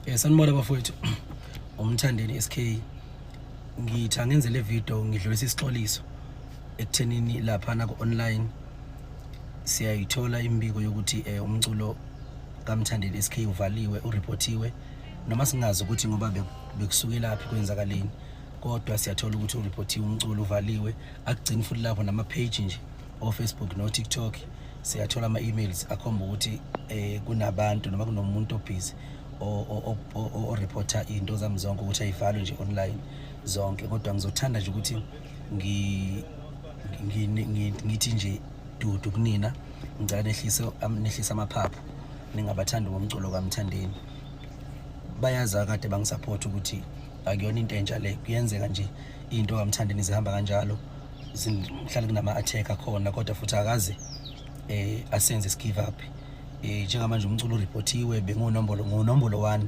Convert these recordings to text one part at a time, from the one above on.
Eh sanibona bafowethu. Umthandeni SK. Ngitha ngenze le video ngidlulisa isixoliso ekuthenini lapha na ku online siyayithola imbiko yokuthi eh umculo kaMthandeni SK uvaliwe ureportiwe noma singazi ukuthi ngoba bekusuke laphi kwenzakaleni kodwa siyathola ukuthi ureportiwe umculo uvaliwe akugcini futhi lapho nama page nje o Facebook no TikTok siyathola ama-emails akhomba ukuthi um kunabantu noma kunomuntu obhizi oreporta iy'nto zami zonke ukuthi ayivalwe nje online zonke kodwa ngizothanda nje ukuthi ngithi nje dudu kunina ngicela nehlise amaphaphu ningabathandi ngomculo kamthandeni bayazi akade bangisaphothi ukuthi akuyona into entsha le kuyenzeka nje into kamthandeni zihamba kanjalo Sihlale kunama attack akhona kodwa futhi akaze eh asenze skive up. Eh njengamanje umculo reportiwe bengonombolo ngonombolo 1,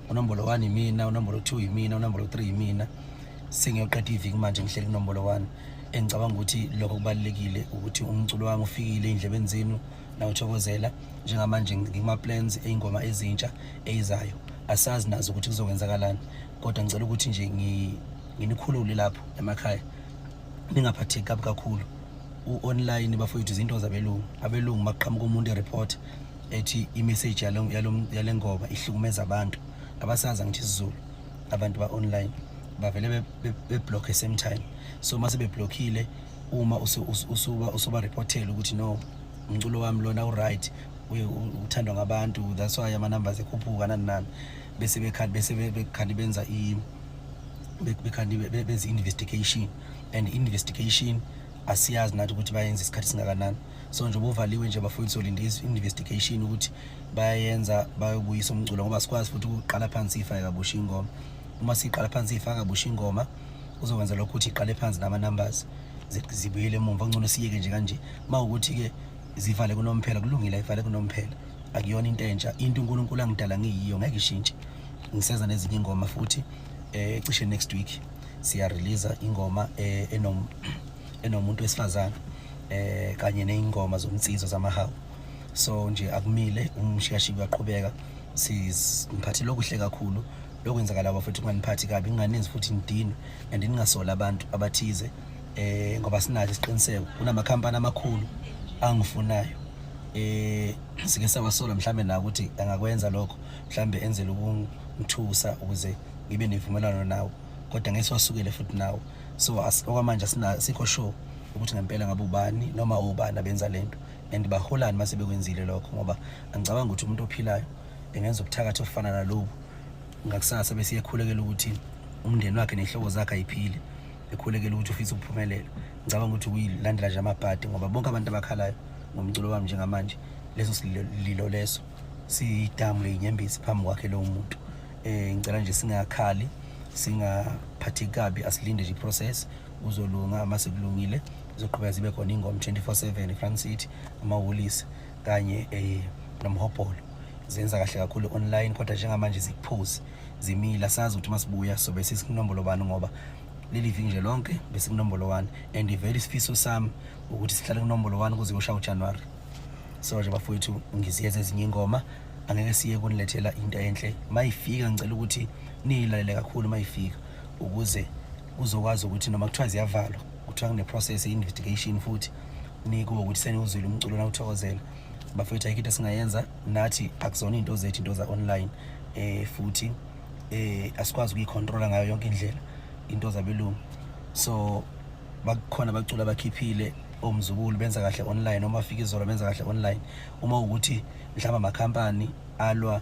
unombolo 1 imina, unombolo 2 imina, unombolo 3 imina. Sengiyoqeda iviki manje ngihleli kunombolo 1. Engicabanga ukuthi lokho kubalekile ukuthi umculo wami ufikile indlebeni zenu nawuthokozela njengamanje ngikuma plans eingoma ezintsha eyizayo. Asazi nazo ukuthi kuzokwenzakalani kodwa ngicela ukuthi nje ngi nginikhulule lapho emakhaya ningaphatheki kabi kakhulu u-online bafowethu izinto zabelungu abelungu maqhamuka umuntu ereport ethi imessage yale ngoba ihlukumeza abantu abasazi angithi isizulu abantu ba-online bavele beblockhe same time so uma sebeblokhile uma usuba reportela ukuthi no umculo wami lona uright uthandwa ngabantu that's why ama-numbers ekhuphuka nani nani bese bekhali benza bekhandi benze investigation and investigation asiyazi nathi ukuthi bayenza isikhathi singakanani so nje bovaliwe nje bafuna solinde investigation ukuthi bayenza bayobuyisa umculo ngoba sikwazi futhi ukuqala phansi ifa yakabusha ingoma uma siqala phansi ifa yakabusha ingoma uzokwenza lokho ukuthi iqale phansi nama numbers zibuyele emuva ngcono siyeke nje kanje mawukuthi ke zivale kunomphela kulungile ayivale kunomphela akuyona into entsha into uNkulunkulu angidala ngiyiyo ngeke ishintshe ngiseza nezinye ingoma futhi eh cishe next week siya release ingoma eh, enom enomuntu wesifazana eh kanye neingoma zomnsizwa zamahawu so nje akumile umshiyashi kuyaqhubeka sizimphathile okuhle kakhulu lokwenzakala bafethu kunganiphathi kabi nginganinzi futhi ngidinwe and ningasola abantu abathize eh ngoba sinathi isiqiniseko kunamakhampani amakhulu angifunayo eh sike sawasola mhlambe na ukuthi angakwenza lokho mhlambe enzela ukungithusa ukuze ngibe nevumelwano nawo kodwa ngeke siwasukele futhi nawo so okwamanje sikho sure ukuthi ngempela ngabe ubani noma ubani abenza lento and baholani mase bekwenzile lokho ngoba angicabanga ukuthi umuntu ophilayo engenza ubuthakathi ofana nalobu ngakusasa bese yekhulekela ukuthi umndeni wakhe nehlobo zakhe ayiphile ekhulekela ukuthi ufisa ukuphumelela ngicabanga ukuthi kuyilandela nje amabhadi ngoba bonke abantu abakhalayo ngomculo wami njengamanje leso sililo leso siyidamu leyinyembezi phambi kwakhe lowo muntu um ngicela nje singakhali singaphathi kabi asilinde nje iprocess uzolunga uma sekulungile zizoqhubeka zibe khona ingoma 24/7 eFront City amahholisi kanye eh nomhobholo zenza kahle kakhulu online kodwa njengamanje zikuphuzi zimila sazi ukuthi masibuya sobe sisinombolo bani ngoba leli viki nje lonke besikunombolo 1 and very sifiso sami ukuthi sihlale kunombolo 1 kuze kushaye uJanuary so nje bafowethu ngiziyeza ezinye ingoma angeke siye kunilethela into enhle mayifika ngicela ukuthi niyilalele kakhulu mayifika ukuze uzokwazi ukuthi noma kuthiwa ziyavalwa kuthiwa kune-process ye-investigation futhi nikuwo ukuthi seniwuzwile umculo nawuthokozela bafethu ayikho into esingayenza nathi akuzona iy'nto zethu into za-online um futhi um asikwazi ukuyikhontrola ngayo yonke indlela into zabelungu so bakukhona bacula bakhiphile omzukulu benza kahle online uma afika izolo benza kahle online uma ukuthi mhlawumbe amakhampani alwa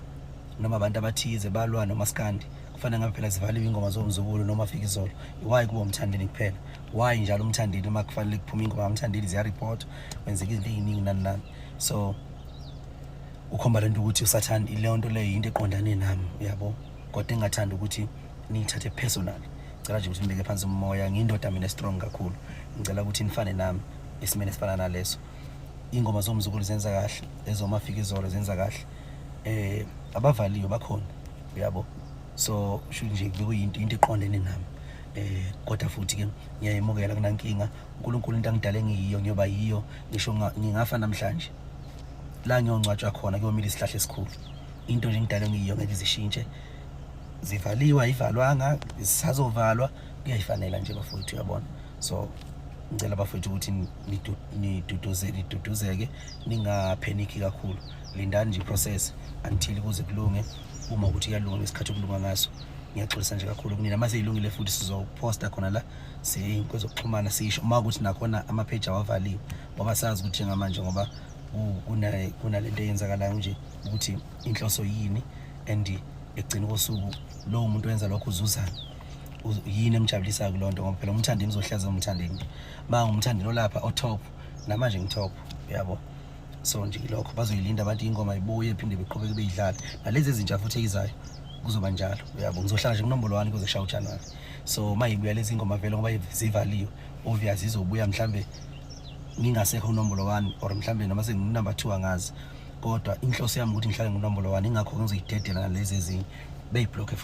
noma abantu abathize balwa nomaskandi kufanele ngabe phela zivaliwe ingoma zomzukulu noma afika izolo why kuba umthandeni kuphela why njalo umthandeni uma kufanele kuphume ingoma umthandeni ziyareport kwenzeka izinto eziningi nani nani so ukhomba lento ukuthi usathanda ilento leyo into eqondane nami uyabo kodwa engathanda ukuthi niyithathe personal ngicela nje ukuthi nibeke phansi umoya ngiyindoda mina strong kakhulu ngicela ukuthi nifane nami esimeni esifana naleso ingoma zomzukulu zenza kahle ezomafika izolo zenza kahle eh abavaliyo bakhona uyabo so sho nje kuyinto into eqondene nami eh kodwa futhi ke ngiyayemukela kunankinga uNkulunkulu into angidale ngiyiyo ngiyoba yiyo ngisho ngingafa namhlanje la ngiyongcwatshwa khona kuyomila isihlahla esikhulu into nje ngidalwe ngiyo ngeke izishintshe zivaliwe ayivalwanga zisazovalwa kuyayifanela nje bafowethu uyabona so ngicela bafowethu ukuthi niduduzeke niduduzeke ningapheniki kakhulu lindani nje process until kuze kulunge uma ukuthi kuyalunga ngesikhathi okulunga ngaso ngiyaxolisa nje kakhulu kunina uma seyilungile futhi sizoposta khona la siyey'nkwezo okuxhumana sisho uma ukuthi nakhona amapheji awavaliwe ngoba sazi ukuthi njengamanje ngoba kunale nto eyenzakalayo nje ukuthi inhloso yini and ekugcina kosuku lowo muntu wenza lokho uzuzana yini emjabulisayo kuloo nto ngoba phela umthandeni uzohlaza umthandeni ma ngumthandeni olapha otop namanje ngitop yabo so nje ilokho bazoyilinda abantu ingoma ibuye phinde beqhubeke beyidlala nalezi ezintsha futhi eyizayo kuzoba njalo uyabo ngizohlala nje kunombolo wani kuze kushaye ujanuwari so uma yibuya lezi ingoma vele ngoba zivaliwe obvious izobuya mhlawumbe ngingasekho unombolo wani or mhlawumbe noma senginumber two angazi kodwa inhloso yami ukuthi ngihlale ngonombolo wani ingakho ngizoyidedela nalezi ezinye beyibhlokhe futhi